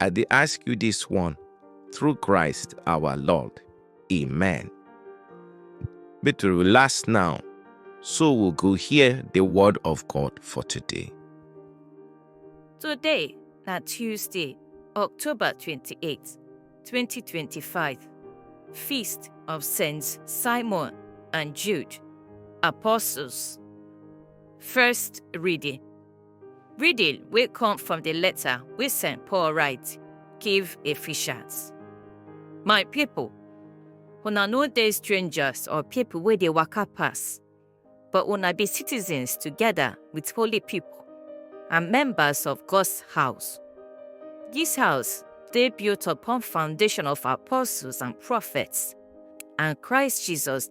I dey ask you this one through Christ our Lord. Amen. Make to relax now, so we go hear the word of God for today. Today na Tuesday, October 28, 2025. Feast of Saints Simon and Jude, Apostles. First reading Reading wey come from the letter wey St. Paul write give Ephesians. My people, una no dey strangers or people wey dey waka pass, but una be citizens together with holy people and members of God's house. This house dey built upon foundation of apostles and prophets, and Christ Jesus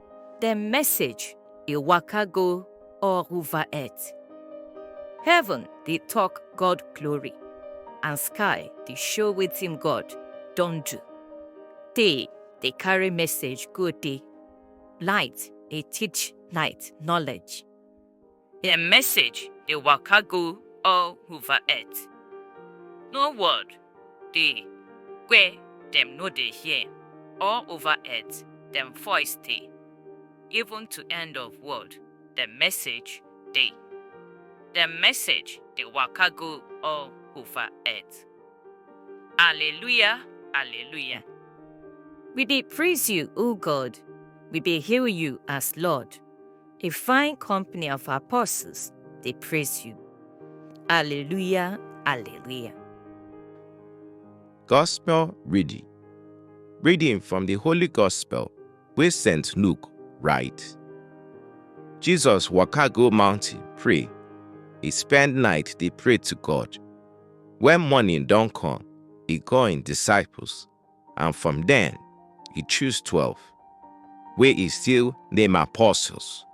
Dem message e waka go all over earth. Heaven dey talk God glory and sky dey show wetin God don do. Day dey carry message go day, light dey teach light knowledge. Her message dey waka go all over earth. No word dey where dem no dey hear, all over earth dem voice dey. Even to end of world dem message dey. Dem message dey waka go all over earth. Alleluia, alleluia. We dey praise you, O God, we dey hail you as Lord. A fine company of apostles, they praise you. Alleluia, Alleluia. Gospel reading. Reading from the Holy Gospel wey St. Luke write. Jesus waka go mountain pray. He spend night dey pray to God. When morning don come, he call him disciples and from dem e choose twelve wey e still name apostles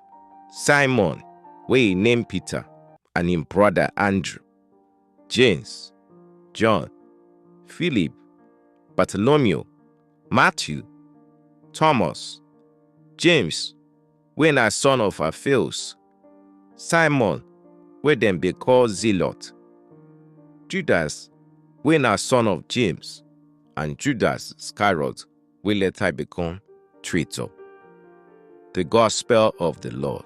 simon wey e name peter and im brother andrew james john philip bartolomeo matthew thomas james wey na son of Alfeus, Simon wey dem dey call Zealot, Judas wey na son of James and Judas Iscariot wey later become traitor. The Gospel of the Lord.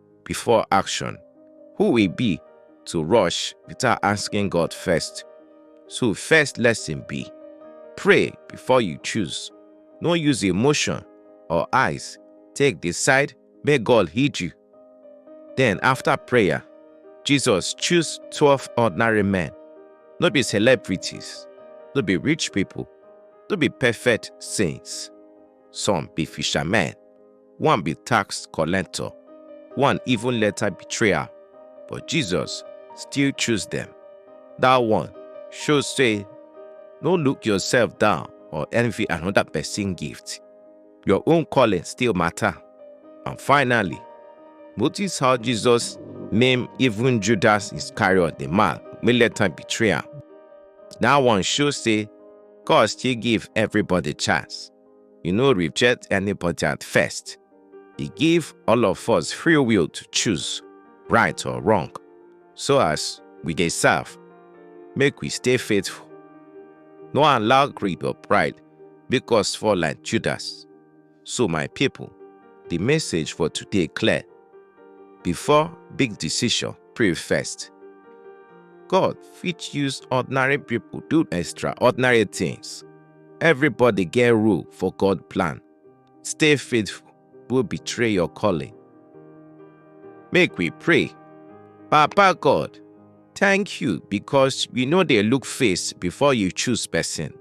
before action. Who we be to rush without asking God first? So first lesson be, pray before you choose. No use emotion or eyes. Take decide, may God heed you. Then after prayer, Jesus choose 12 ordinary men. No be celebrities, no be rich people, no be perfect saints. Some be fishermen. one be tax collector, one even later betrayer, but Jesus still choose them. That one show say, no look yourself down or envy another person gift. Your own calling still matter. And finally, notice how Jesus named even Judas Iscariot the man wey later betray am. That one show say God still give everybody chance. You no reject anybody at first. He give all of us free will to choose right or wrong. So as we dey serve, make we stay faithful. No allow greed or pride make us fall like Judas. So my people, the message for today clear. Before big decision, pray first. God fit use ordinary people do extraordinary things. Everybody get rule for God plan. Stay faithful, will betray your calling. Make we pray. Papa God, thank you because you know they look face before you choose person.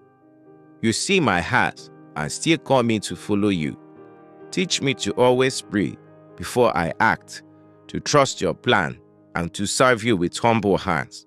You see my heart and still call me to follow you. Teach me to always pray before I act, to trust your plan, and to serve you with humble hands.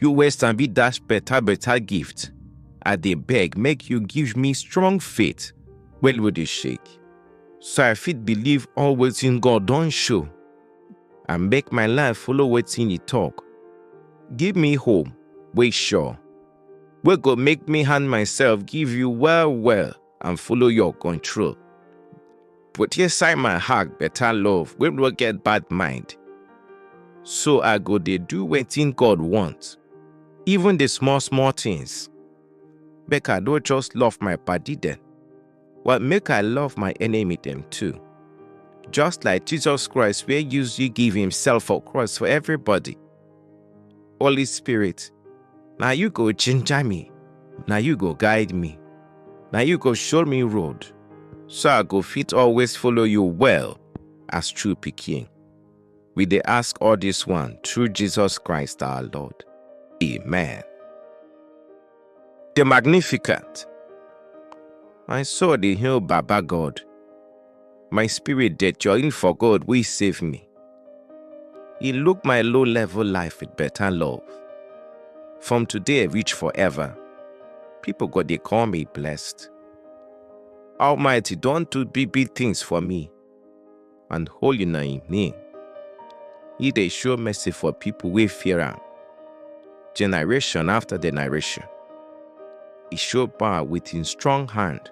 You wey sabi dash better better gift, I dey beg make you give me strong faith wey no dey shake, so I fit believe all wetin God don show and make my life follow wetin e talk. Give me hope wey sure, wey go make me hand myself give you well well. and follow your control. Put inside my heart better love wey no get bad mind. So I go dey do wetin God want, even the small small things. Make I no just love my padi dem, but make I love my enemy dem too. Just like Jesus Christ wey use you give himself for cross for everybody. Holy Spirit, na you go ginger me, na you go guide me, na you go show me road, so I go fit always follow you well as true pikin. We dey ask all this one through Jesus Christ our Lord. Amen. The Magnificat. My soul dey hail Baba God. My spirit dey join for God wey save me. He look my low level life with better love. From today reach forever, people go dey call me blessed. Almighty don do big big things for me. and holy na im name. He dey show mercy for people wey fear am, generation after generation. He show power with him strong hand,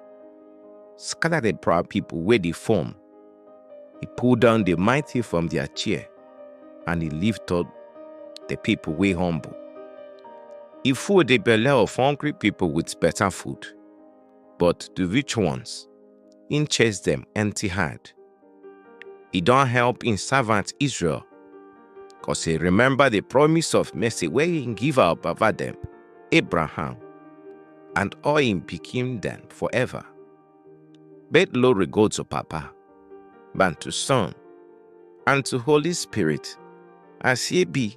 scatter the proud people wey dey form. He pull down the mighty from their chair, and he lift up the people wey humble. He full the belle of hungry people with better food, but the rich ones im chase dem empty hand. E don help im servant Israel, cos e remember the promise of mercy wey im give our baba dem, Abraham, and all im pikin dem forever. But glory go to Papa, and to Son, and to Holy Spirit, as e be